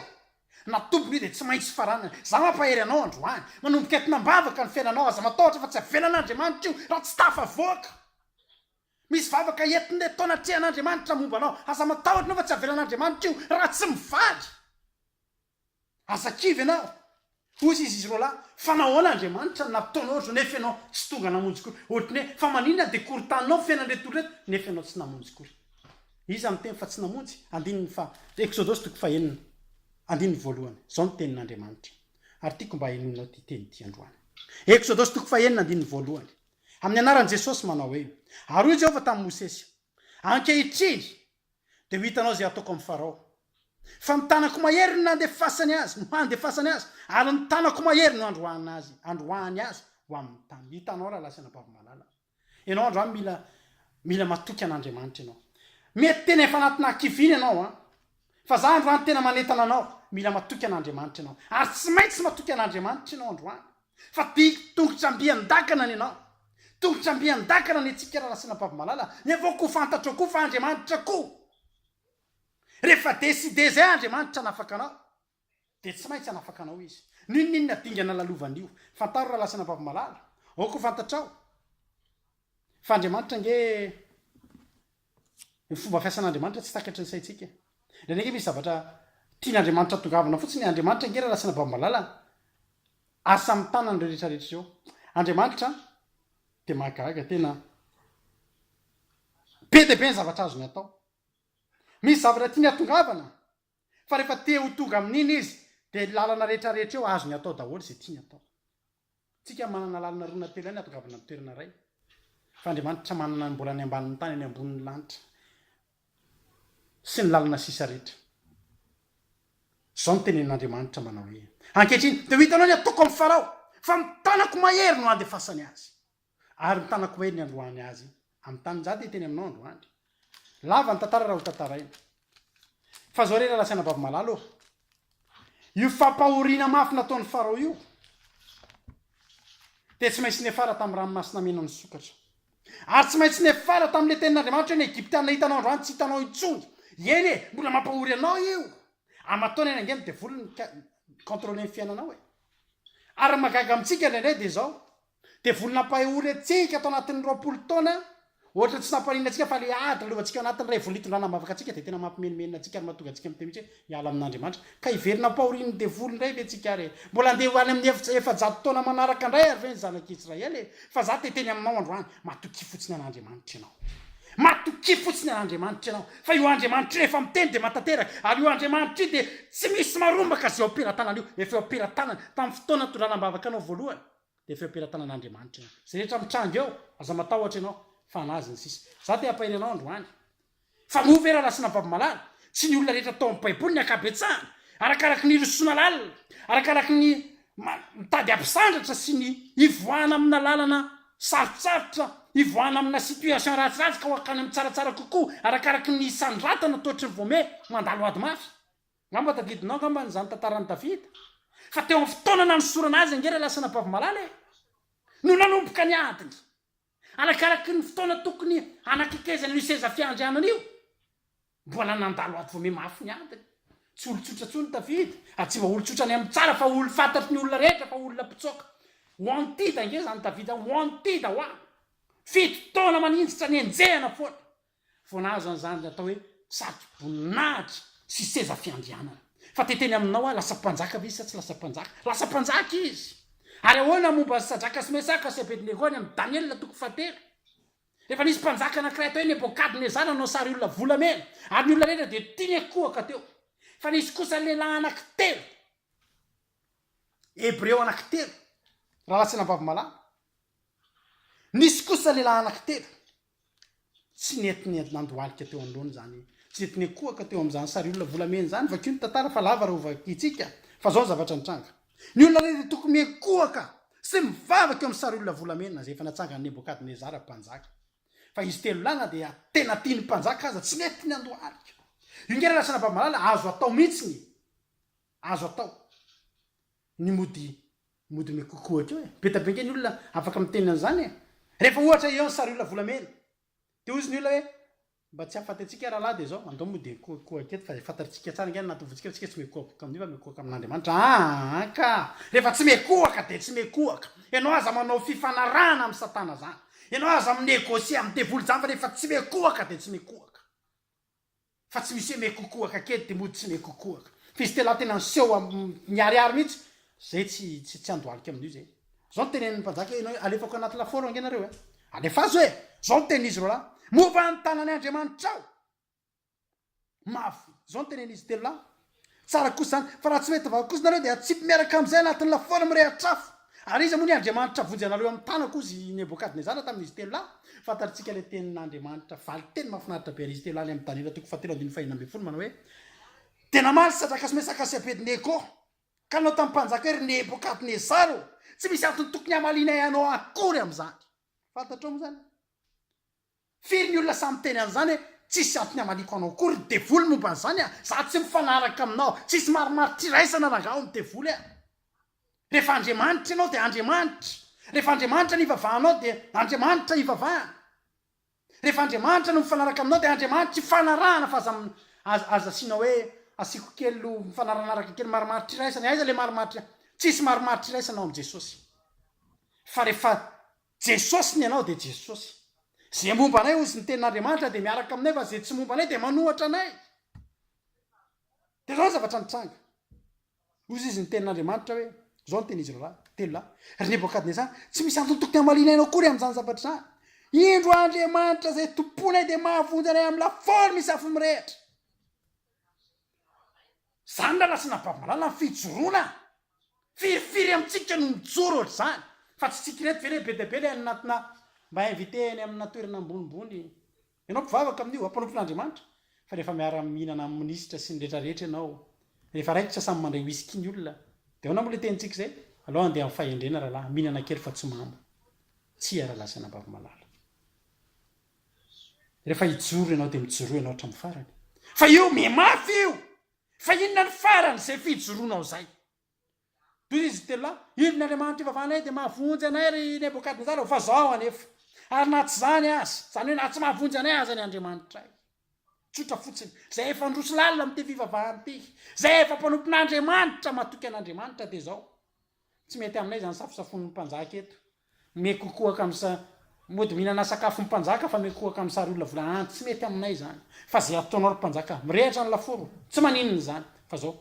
na tompony io dia tsy maintsy faranana. Za mampahery anao androany. Manomboka eto nambavaka ny fiainanao. Aza matahotra fa tsy avelan'Andriamanitra io raha tsy tafavoaka. Misy vavaka entin'ny eto anatrehan'Andriamanitra momba anao. Aza matahotra anao fa tsy avelan'Andriamanitra io raha tsy mivaly. Aza kivy ianao! Hoy izy, Izy roalahy, fa nahoana Andriamanitra no nataonao ohatr'izao nefa ianao tsy tonga namonjy koa? Ohatry ny hoe, fa maninona dia korontaninao fiainan'ireto olona ireto nefa ianao tsy namonjy koa? Iza miteny fa tsy namonjy? Andininy faha, Eksodosy toko fahenina, andininy voalohany. Izao no tenin'Andriamanitra, ary tiako mba henoinao ity teny ity androany. Eksodosy toko fahenina, andininy voalohany. Amin'ny anaran'i Jesosy manao hoe, Ary hoy Jehovah tamin'i Mosesy, Ankehitriny, dia ho hitanao izay hataoko amin'i Farao. Fa ny tanako mahery no nandefasany azy, no handefasany azy, ary ny tanako mahery no handroahana azy, handroahany azy ho amin'ny tany. Hitanao rahalahy sy anabavy malala, ianao androany mila, mila matoky an'Andriamanitra ianao. Mety tena efa anatinà hakiviana ianao an! Fa izaho androany tena manentana anao, mila matoky an'Andriamanitra ianao. Ary tsy maintsy matoky an'Andriamanitra ianao androany. Fa big tongotr'amby an-dakana ny anao. Tongotr'amby an-dakana ny antsika Rarasianabavmalala, nefa koa fantatrao koa fa Andriamanitra koa. Rehefa décider izay Andriamanitra hanafaka anao, dia tsy maintsy hanafaka anao Izy. N'inon'inona dingana lalovana io. Fantaro Raralasianabavmalala, aoka ho fantatrao fa Andriamanitra ange. Ny fomba fiasan'Andriamanitra tsy takatry ny saintsika. Indraindray ange misy zavatra tian'Andriamanitra hatongavana fotsiny. Andriamanitra ange rarasina bambalala, asa amin'ny tanany ireo rehetrarehetra ireo. Andriamanitra dia mahagaga, tena be dia be ny zavatra azony atao. Misy zavatra tiany hatongavana, Fa rehefa te ho tonga amin'iny izy dia ny lalana rehetrarehetra eo azony atao daholo izay tiany atao. Tsika manana lalana roa na telo ihany atongavana amin'ny toerana iray. Fa Andriamanitra manana ny mbola any ambanin'ny tany any ambonin'ny lanitra sy ny lalana sisa rehetra. Izao no tenenin'Andriamanitra manao hoe, Ankehitriny dia ho hitanao ny ataoko amin'i Farao, fa ny tanako mahery no handefasany azy. Ary ny tanako mahery niandroany azy amin'ny tany njady ny teny aminao androany. Lava ny tantara raha ho tantaraina. Fa zao re lalasaina babo malala ô. Io fampahoriana mafy nataon'i Farao io dia tsy maintsy nefara tamin'ny ranomasina mena nisokatra. Ary tsy maintsy nefara tamin'ilay tenin'Andriamanitra hoe ny Egyptiana hitanao androany tsy hitanao intsony. Eny e, mbola mampahory anao io. Aman-taonany ange ny devoly ny contrôler ny fiainanao e. Ary ny mahagaga amintsika indraindray dia izao, Dia vola nampahay ho retsehika tao anatin'ny roapolo taona, ohatra tsy nampahariana antsika fa ilay ady nalovantsika ao anatin'ny ray vola itondràna ambavaka antsika dia tena mampimenomenona antsika ary mahatonga antsika miteny mihitsy hoe miala amin'Andriamanitra. Ka hiverina ampahorian'ny devoly indray ve tsika ary e? Mbola handeha ho any amin'ny efitra efajato taona manaraka indray ary ve ny zanak'i Israely e? Fa za te hiteny aminao androany, matokia fotsiny an'Andriamanitra ianao. Matokia fotsiny an'Andriamanitra ianao, fa io Andriamanitra io rehefa miteny dia mahatanteraka, ary io Andriamanitra io dia tsy misy marombaka izay eo am-pelatanany io, efa eo am-pelatanany, tamin'ny fotoana nitondràna ambavaka anao voalohany. Dia feom-pelatanan'Andriamanitra io. Izay rehetra mitranga eo, aza matahotra ianao, fa an'Azy ny sisa. Izaho te hampahery anao androany. Fa moa ve raha nasiana babomalala? Tsy ny olona rehetra tao amin'ny Baiboly ny ankabetsahany, arakaraky ny rosoana lalina, arakaraky ny mitady hampisandratra sy ny hivoahana amina lalana sarotsarotra, hivoahana amina situation ratsiratsy ka ho hankany amin'ny tsaratsara kokoa, arakaraky ny hisandratana toetry ny voamé, mandalo ady mafy. Ngamba tadidinao ngambany izany tantaran'i Davida fa teo amin'ny fotoana nanosorana azy ange ilay lasana Bavmalala e! no nanomboka ny adiny, arakaraky ny fotoana tokony hanakekezana io seza fiandrianana io. Mbola nandalo avo voame mafy ny adiny. Tsy olon-tsotra intsony Davida, ary tsy mba olon-tsotra any amin'ny tsara fa olo fantatry ny olona rehetra fa olona mpitsoaka. Wanted ange izany Davida, wanted ho'a fito taona maninjitra nenjehana foana Vao nahazo an'izany dia atao hoe satroboninahitra sy seza fiandrianana. Fa dia teny aminao aho, lasa mpanjaka ve izy sa tsy lasa mpanjaka? Lasa mpanjaka izy! Ary ahoana ny momba an'i Sadraka sy Mesaka sy Abednego any amin'ny Daniela toko fahatelo? Efa nisy mpanjaka anankiray atao hoe Nebokadnezara nanao sary olona volamena, ary ny olona rehetra dia tiany hakohaka teo. Fa nisy kosa lehilahy anankitelo, Hebreo anankitelo, raha latsina am-bavomalala. Nisy kosa lehilahy anankitelo. Tsy nety nandohalika teo anoloany izany. Tsy nety nikohaka teo amin'izany sariolona volamena izany. Vakio ny tantara fa lava raha ho vakintsika. Fa izao ny zavatra nitranga. Ny olona rehetra dia tokony mikohaka sy mivavaka eo amin'ny sariolona volamena izay efa natsangan'i Nebokadnezara mpanjaka. Fa izy telo lahy na dia tena tian'ny mpanjaka aza, tsy nety nandohalika. Io nge raha lasa anabavy malala, azo atao mihitsy ny azo atao ny mody Mody me coucou akeo e! Be da be nge ny olona afaka miteny an'izany e! Rehefa ohatra eo ny sariolona volamena dia hozy ny olona hoe mba tsy hahafaty antsika rahalahy dia izao andao mody me coucou aky eto fa izay fantatritsika tsara nge anaty vontsika fa tsika tsy me koabouka amin'io fa me koaka amin'Andriamanitra aa ka! Rehefa tsy me koaka dia tsy me koaka! Ianao aza manao fifanarahana amin'i satana zany! Ianao aza mi-negocier amin'ny devoly zany fa rehefa tsy me koaka dia tsy me koaka! fa tsy misy hoe mekokohaka kely dia mody tsy mekokohaka. Fistela tena niseho am miharihary mihitsy, zay tsy tsy tsy andohalika amin'io zay. Zao ny tenenin'ny mpanjaka hoe ianao alefako anaty lafaoro ange nareo eh! Alefaso eh! Zao ny tenin'izy roalahy. Momba ny tanan'i Andriamanitrao! Mafy! Zao ny tenenin'izy telo lahy. Tsara kosa izany, fa raha tsy mety vavaka kosa nareo dia atsipy miaraka amin'izay anatin'ny lafaoro mirehatra afo. Ary iza moa ny Andriamanitra vonjy anareo amin'ny tanako hozy i Nebokadnezara tamin'izy telo lahy? Fantatritsika ilay tenin'Andriamanitra, valin-teny mahafinaritra be an'izy telo lahy any amin'ny Daniela toko fahatelo andininy fahenina ambin'ny folo manao hoe, Dia namaly Sadraka sy Mesaka sy Abednego, ka nanao tamin'ny mpanjaka hoe, Ry Nebokadnezara ô, tsy misy antony tokony hamalianay anao akory amin'izany. Fantatrao moa izany? Firy ny olona sahy miteny an'izany hoe tsisy antony hamaliako anao akory ny devoly momba an'izany a! Za tsy mifanaraka aminao, tsisy marimaritr'iraisana rangaha ao ny devoly a! Rehefa Andriamanitra ianao dia Andriamanitra, rehefa Andriamanitra ny ivavahanao dia Andriamanitra ivavahana, rehefa Andriamanitra no mifanaraka aminao dia Andriamanitra ifanarahana fa aza aza aza asiana hoe asiako kely lo mifanarahanaraka kely marimaritr'iraisana, aiza le marimaritra, tsisy marimaritr'iraisana ao amin'i Jesosy fa rehefa Jesosy ny anao dia Jesosy. Ze momba anay hozy ny tenin'Andriamanitra dia miaraka aminay fa ze tsy momba anay dia manohatra anay. Dia zao ny zavatra nitranga. Hozy izy ny tenin'Andriamanitra hoe, zao ny tenin'izy ireo lahy, telo lahy, ry Nebokadnezara, tsy misy antony tokony hamaliana anao akory amin'izany zavatra izany. Indro Andriamanitra izay tompoinay dia mahavonjy anay amin'ny lafaoro misy afo mirehitra. Zany lala sy nabavimalala ny fijoroana a! Firy firy amintsika no mijoro ohatr'izany fa tsy tsika ireto ve le be dia be le any anatina mba inviter any amina toerana ambonimbony ianao mpivavaka amin'io a mpanompo n'Andriamanitra fa rehefa miara mihinana amin'ny minisitra sy ny rehetra rehetra ianao rehefa raikitra samy mandray whisky ny olona de ahoana moa le tenintsika izay aleo andeha amin'ny fahendrena ralahy mihinana kely fa tsy mamo tsia ralahy sy anabavimalala. Rehefa hijoro ianao dia mijoroa ianao hatramin'ny farany. Fa io miha mafy io! Fa inona ny faran'izay fijoroanao izay? Toy izy telo lahy, Inona Andriamanitra ivavahanay dia mahavonjy anay ry Nebokadnezara ho vazaho anefa. Ary na tsy izany aza, izany hoe na tsy mahavonjy anay aza ny Andriamanitray. Tsotra fotsiny, izay efa handroso lalina amin'ity fivavahana ity, izay efa mpanompon'Andriamanitra, matoky an'Andriamanitra dia izao, Tsy mety aminay izany safosafon'ny mpanjaka eto. Mihakokoaka amin'ny sa, mody mihinana sakafon'ny mpanjaka fa mihakokoaka amin'ny sary olona vola an, tsy mety aminay izany. Fa izay ataonao ry mpanjaka, mirehatra ny laforo, tsy maninona izany. Fa izao,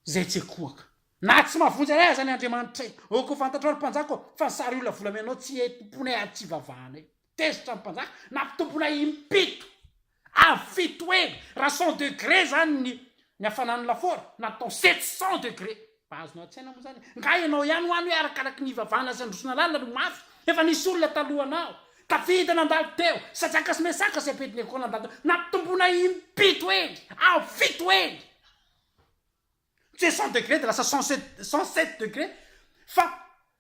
izay tsy hakohaka. Na tsy mahavonjy anay aza ny Andriamanitray. Aoka ho fantatrao ry mpanjaka ô, fa ny sary olona vola amianao tsy hetim-ponay ary tsy ivavahanay. Tezitra ny mpanjaka, nampitomboina impito avo fito heny, raha cent degré izany ny ny hafanan'ny lafaoro, natao sept cent degré. Mba azonao an-tsaina moa izany e? Nga ianao ihany ho any hoe arakaraky ny ivavahana sy handrosona lalina no mafy? Efa nisy olona talohanao, tafita nandalo teo, Sajaka sy Mesaka sy Abednego nandalo teo, nampitomboina impito heny, avo fito heny. Tsy hoe cent degré dia lasa cent sept, cent sept degré, fa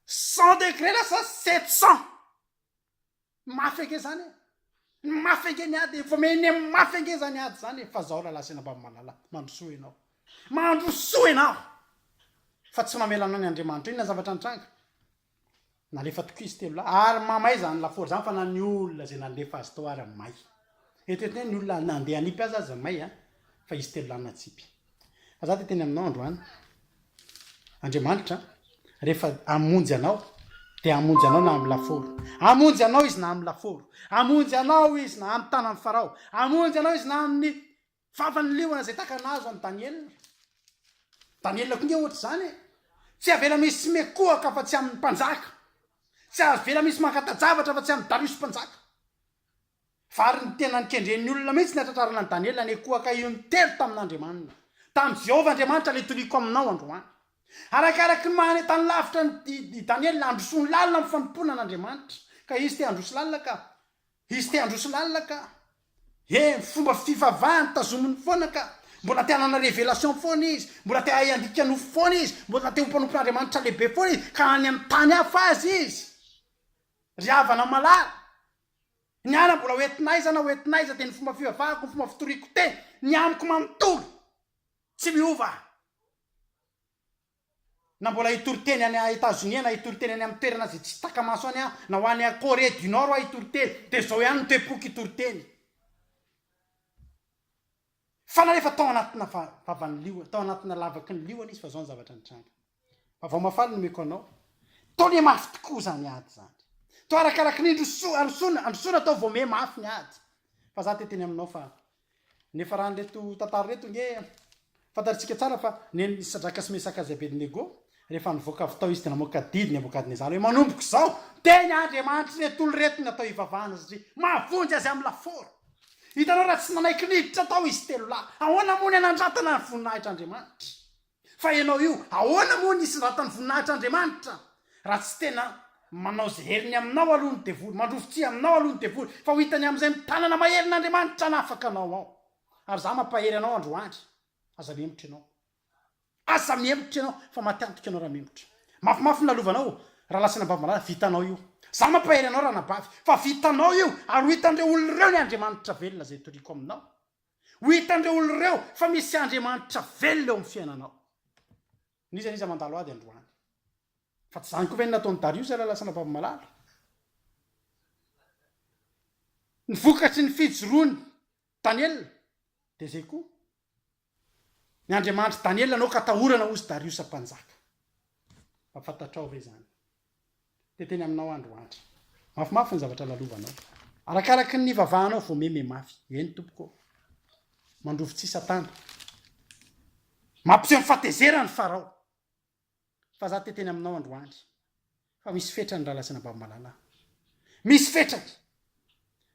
cent degré lasa sept cent. Ny mafy ange zany e! Ny mafy ange ny ady e! Vao mihaino ny amin'ny mafy ange zany ady zany e! Fa zaho Lala Sena Ambavimalala, mandrosoa ianao. Mandrosoa ianao! Fa tsy mamela anao ny Andriamanitra. Inona zavatra nitranga? Nalefa tokizy telo lahy, ary mamay zany lafaoro zany fa na ny olona zay nandefa azy tao ary may. Eritrereto ny hoe ny olona nandeha hanipy azy aza may an! Fa izy telo lahy natsipy. Fa za te teny aminao androany Andriamanitra rehefa amonjy anao de amonjy anao na am laforo amonjy anao izy na am laforo amonjy anao izy na am tanan'ny farao amonjy anao izy na amin'ny vavan'ny liona zay taka nazo an'i Daniela Daniela koa nge ohatra izany e tsy avela misy mekohaka fa tsy amin'ny mpanjaka tsy avela misy mankata-javatra fa tsy amin'ny Dariosy mpanjaka Fa ary ny tenany kendren'ny olona mihitsy ny hatratrarana an'i Daniela anie koa ka io nitely tamin'Andriamanina, tamin'i Jehovah Andriamanitra ilay tolihiko aminao androany. Arakaraka ny maha any an-tany lavitra an'i Daniela, handrosony lalina amin'ny fanompoana an'Andriamanitra ka izy te handroso lalina ka, izy te handroso lalina ka. He, fomba fivavahany tazominy foana ka. Mbola te hanana révélation foana izy, mbola te hahay handika nofo foana izy, mbola te ho mpanompon'Andriamanitra lehibe foana izy ka any amin'ny tany hafa aza izy. Ry havana malala, Ny ala mbola ho entin'aiza na ho entin'aiza dia ny fomba fivavahako, ny fomba fitoriako te, ny amiko manontolo, tsy miova aho. Na mbola hitory teny any Etazonia, na hitory teny any amin'ny toerana izay tsy taka-maso any aho, na ho any Corée du Nord aho hitory teny, dia izao ihany no toe-poko hitory teny. Fa na efa tao anatina vavan'ny liona, tao anatina lavaky ny liona izy fa zao ny zavatra nitranga. Fa vao mafaly nomeko anao, tao le mafy tokoa zany ady zany. Tao arakaraky ny indrosoa, androsoana, androsoana tao vao me mafy ny ady. Fa za te teny aminao fa niafaran'ireto tantara ireto nge fantarintsika tsara fa nen'i Sadraka sy Mesaka sy Abednego Rehefa nivoaka avy tao izy dia namoaka didy Nebokadnezara hoe, Manomboka izao, teny andriamanitry ireto olona ireto ny natao hivavahana satria mahavonjy azy amin'ny lafaoro. Hitanao raha tsy nanaiky niditra tao izy telo lahy, ahoana moa ny hanandratana ny voninahitr'Andriamanitra? Fa ianao io, ahoana moa ny hisindratan'ny voninahitr'Andriamanitra? Raha tsy tena manao izay heriny aminao aloha ny devoly, mandrovy tsihy aminao aloha ny devoly, fa ho hitany amin'izay ny tanana maherin'Andriamanitra hanafaka anao ao. Ary izaho mampahery anao androany, aza mihemotra ianao. Asa mihemotra ianao fa maty antoka ianao raha mihemotra. Mafimafy ny lalovanao raha lasan'i Ambavalala, vitanao io. Za mampahery anao Ranabavy fa vitanao io ary ho hitan'ireo olona ireo ny Andriamanitra velona izay itoriako aminao. Ho hitan'ireo olona ireo fa misy Andriamanitra velona eo amin'ny fiainanao. N'iza n'iza mandalo ady androany. Fa tsy izany koa ve no nataon'i Dariosa raha lasa Ravalomalala? Ny vokatry ny fijoroany. Daniela, dia izay koa ny Andriamanitry Daniela anao ka atahorana hozy Dariosa mpanjaka. Mba fantatrao ve izany? Dia teny aminao androandry. Mafimafy ny zavatra lalovanao. Arakaraky ny nivavahanao vao meme mafy. Eny tompoko. Mandrovitsihy Satana. Mampiseho ny fahatezerany Farao. Fa za te teny aminao androany fa misy fetrany raha lazaina babomalala aho misy fetrany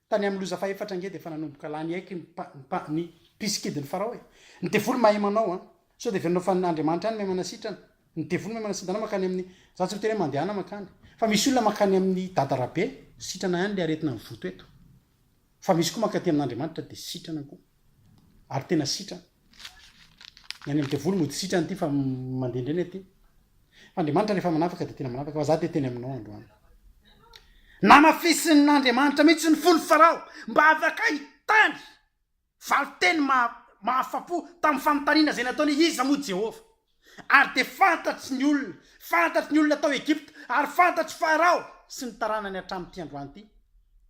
tany amin'ny loza fahefatra nge dia efa nanomboka lany haiky ny mpa ny mpisikidin'ny farao e ny devoly mahay manao an sao dia venona fa andriamanitra any mahay manasitrana ny devoly mahay manasitana makany amin'ny za tsy miteny hoe mandehana makany fa misy olona makany amin'ny dadarabe sitrana ihany le aretina mivoto eto Fa misy koa mankaty amin'Andriamanitra dia sitrana koa. Ary tena sitrana. Ny any amin'ny devoly mody sitrana ity fa mandendreny aty. Fa Andriamanitra rehefa manafaka dia tena manafaka fa za dia teny aminao androany. Namafisin'Andriamanitra mihitsy ny fon'i Farao mba afaka hitany valinteny mahafapo tamin'ny fanontaniana izay nataony hoe iza moa Jehovah. Ary dia fantatry ny olona, fantatry ny olona tao Egypta, ary fantatr'i Farao sy ny taranany hatramin'ity androany ity.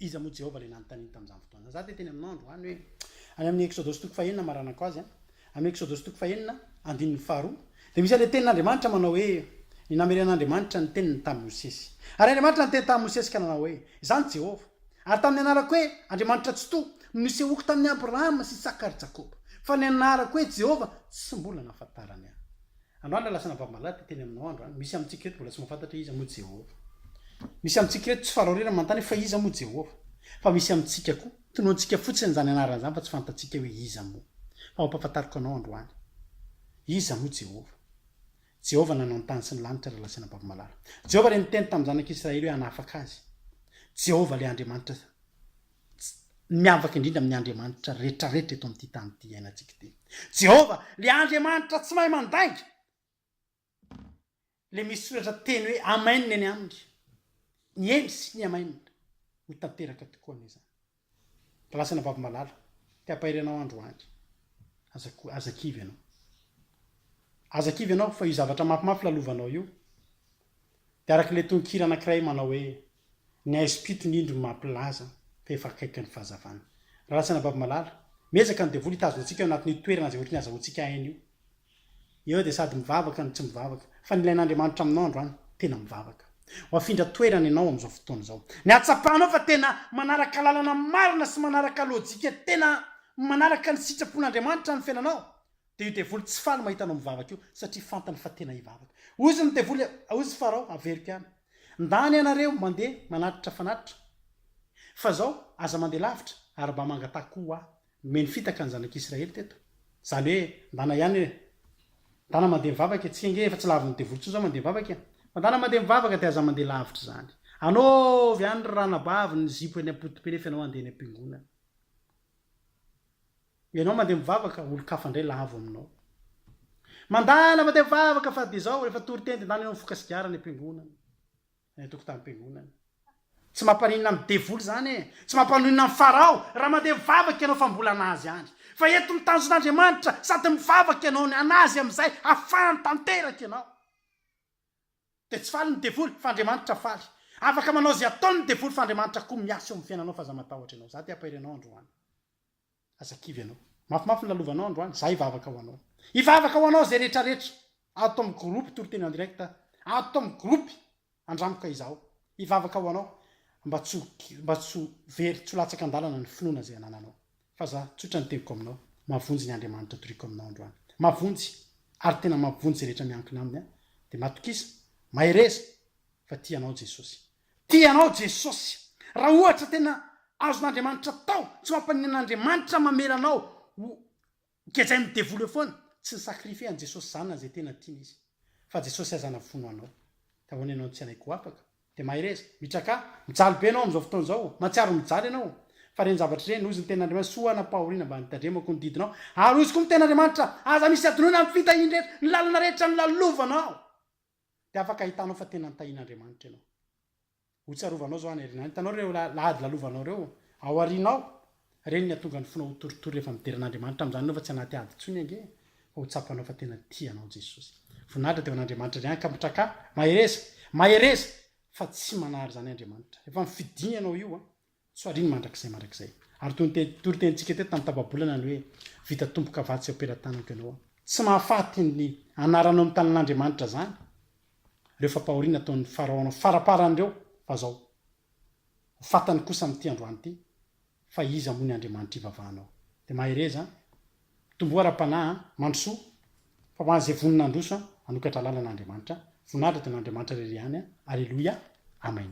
Iza moa Jehovah ilay nanontaniany tamin'izany fotoana izany? Izaho dia teny aminao androany hoe, any amin'ny Eksodosy toko fahenina maranako azy, amin'ny Eksodosy toko fahenina, andininy faharoa, dia misy an'ilay tenin'Andriamanitra manao hoe, Ny nameren'Andriamanitra ny teniny tamin'i Mosesy. Ary Andriamanitra niteny tamin'i Mosesy ka nanao hoe, Izaho ny Jehovah. Ary tamin'ny anarako hoe Andriamanitra Tsitoha no nisehoako tamin'i Abrahama sy Isaka ary Jakoba. Fa ny anarako hoe Jehovah tsy mbola nahafantarany ahy. Androany lasa anabavy malady dia teny aminao aho androany. Misy amintsika eto mbola tsy mahafantatra hoe iza moa Jehovah. Misy amintsika eto tsy faraoriana manontany hoe fa iza moa Jehovah. Fa misy amintsika koa, tonontsika fotsiny izany anarany izany fa tsy fantatsika hoe iza moa. Fa mampahafantariko anao androany. Iza moa Jehovah. Jehovah nanao ny tany sy ny lanitra raha lasaina am-bavim-malala. Jehovah ilay niteny tamin'ny zanak'i Israely hoe hanafaka azy. Jehovah ilay Andriamanitra tsy miavaka indrindra amin'ny andriamanitra rehetrarehetra eto amin'ity tany ity iainantsika ity. Jehovah ilay Andriamanitra tsy mahay mandainga, ilay misy soratra teny hoe Amen eny aminy. Ny eny sy ny Amen ho tanteraka tokoa anie izany. Lasana baby malala, te hampahery anao androany. Aza ko, aza kivy ianao. Aza kivy ianao fa io zavatra mafimafy lalovanao io dia araka ilay tononkira anankiray manao hoe ny haizim-pito ny indro no mampilaza fa efa akaiky ny fahazavana. Lasana baby malala, miezaka ny devoly hitazona antsika ao anatin'io toerana izay ohatry ny azahoantsika aina io. Eo dia sady mivavaka no tsy mivavaka. Fa ny ilain'Andriamanitra aminao androany, tena mivavaka. Ho afindra toerana ianao amin'izao fotoana izao. Ny hahatsapanao fa tena manaraka lalana marina sy manaraka lojika tena manaraka ny sitrapon'Andriamanitra ny fiainanao, dia io devoly tsy faly mahita anao mivavaka io, satria fantany fa tena hivavaka. Hozy ny devoly, Hozy Farao, averiko ihany. Ndany ianareo mandeha manatitra fanatitra. Fa izao, aza mandeha lavitra, ary mba mangataha koa ho ahy. Nomeny fitaka ny zanak'Israely teto. Izany hoe, ndana ihany hoe, ndana mandeha mivavaka e, tsy enga e, efa tsy lavin'ny devoly intsony izao mandeha mivavaka e. Fa ndana mandeha mivavaka dia aza mandeha lavitra izany. Anaovy any ry ranabavy ny zipo eny am-potopela efa ianao handeha eny am-piangonana. Ianao mandeha mivavaka, olon-kafa indray lavo aminao. Mandana mandeha mivavaka fa dia izao, rehefa toriteny dia ndana ianao mifoka sigara any am-piangonana. Any an-tokotanim-piangonana. Tsy mampaninona amin'ny devoly izany e! Tsy mampaninona an'i Farao raha mandeha mivavaka ianao fa mbola an'azy any. Fa eto ny tanjon'Andriamanitra sady mivavaka ianao ny an'azy amin'izay afahany tanteraka ianao. Dia tsy faly ny devoly fa Andriamanitra faly. Afaka manao izay ataony ny devoly fa Andriamanitra koa miasa eo amin'ny fiainanao fa aza matahotra ianao. Izaho te-hampahery anao androany. Aza kivy ianao. Mafimafy ny lalovanao androany. Izahay hivavaka ho anao. Hivavaka ho anao izay rehetrarehetra. Ato amin'ny groupe toriteny en direct. Ato amin'ny groupe andramboka izaho. Hivavaka ho anao mba tsy ho mba tsy ho very, tsy ho latsaka an-dalana ny finoana izay anananao. Fa za tsotra ny teniko aminao, mavonjy ny Andriamanitra itoriako aminao androany. Mavonjy ary tena mavonjy izay rehetra miankina aminy an! Dia matokisa, mahereza fa tia anao Jesosy. Tia anao Jesosy. Raha ohatra tena azon'Andriamanitra atao, tsy mampaninona an'Andriamanitra mamela anao ho gejain'ny devoly eo foana. Tsy ni-sacrifier an'i Jesosy zanany izay tena tiany izy. Fa Jesosy aza navono anao. Dia ahoana ianao no tsy hanaiky ho afaka? Dia mahereza. Mitrakà. Mijaly be ianao amin'izao fotoana izao. Mahatsiaro mijaly ianao. Fa ireny zavatra ireny, hoy ny tenin'Andriamanitra, soa hanam-pahoriana mba hanitandremako ny didinao. Ary hoy izy koa ny tenin'Andriamanitra, Aza misy adinoina amin'ny fitahiany rehetra, ny lalana rehetra nolalovanao. Dia afaka hitanao fa tena nitahian'Andriamanitra ianao. Hotsarovanao izao any aoriana any. Hitanao ireo lahady lalovanao ireo ao aoriana ao? Ireny ny hahatonga ny fonao ho torotoro rehefa midera an'Andriamanitra amin'izany ianao fa tsy anaty ady intsony ange fa ho tsapanao fa tena tia anao Jesosy. Voninahitra dia ho an'Andriamanitra indray ankampitraka. Mahereza! Mahereza! Fa tsy manary izany Andriamanitra. Efa nifidiny ianao io an. Tsoariny mandrakizay mandrakizay. Ary toy ny te toritenintsika teto tamin'ny tapa-bolana ny hoe, Vita tompon-kavatsy eo am-pelatanako ianao an. Tsy mahafaty ny anaranao amin'ny tanin'Andriamanitra izany ireo fampahoriana ataon'ny Farao anao faraparany ireo fa izao, ho fatany kosa amin'ity androany ity, fa iza moa ny Andriamanitra ivavahanao? Dia mahereza an! Mitomboa ara-panahy an! Mandrosoa, fa ho an'izay vonona handroso an! Hanokatra lalana Andriamanitra an! Voninahitra dia ho an'Andriamanitra irery ihany an! Aleloia! Amen!